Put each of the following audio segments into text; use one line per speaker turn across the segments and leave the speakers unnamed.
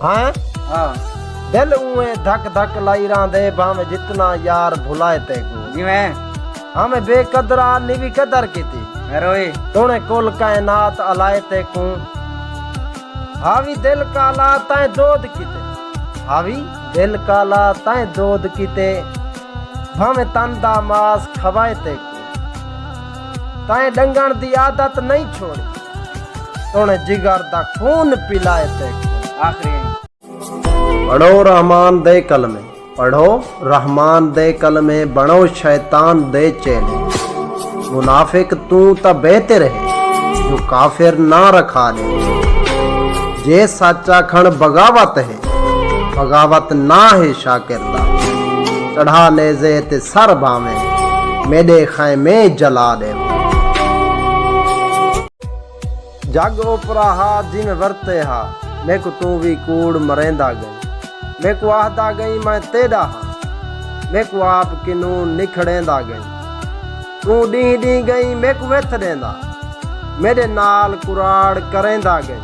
ہاں ہاں
دل اوے
دھک دھک لائی ران دے بھا میں جتنا یار بھلائے تے گو جی میں
ہاں میں بے
قدرا نی بھی قدر کی تھی روئی تونے
کل
کائنات علائے تے کو ہاوی دل کالا تائیں دود کی تے ہاوی دل کالا تائیں دود کی تے بھا میں تن دا ماس کھوائے تے کو تائیں ڈنگن دی عادت نہیں چھوڑی سن جگر دا خون پلائے تے آخری پڑھو رحمان دے کلمے پڑھو رحمان دے کلمے بنو شیطان دے چیلے منافق تو تا بہتر ہے جو کافر نہ رکھا لے جے سچا کھن بغاوت ہے بغاوت ناں ہے شاکر دا چڑھا نیزے تے سر بھانویں میݙے خیمے جلا ݙیوے۔ جھڳ اوپرا ہا جن ورتے ہا میکوں توں وی کوڑ مریندا ڳئیں میکوں آہدا ڳئیں میں تیݙا ہاں میکوں آپ کنوں نکھڑیندا ڳئیں توں ݙینہہ ݙینہہ ڳئیں میکوں وتھ ݙیندا میݙے نال کراڑ کریندا ڳئیں۔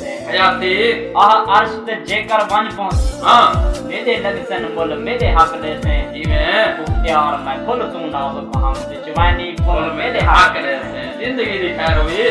حیاتی آہ
عرش
تے جیکر ونج پہنچی ہاں میڈے
لگسن مل
میڈے حق دے سے جیویں بختیار
میں کھل
توں نازک ہم
تے
چوینی پھل
میڈے
حق
دے
سے زندگی
دی
خیر ہوئی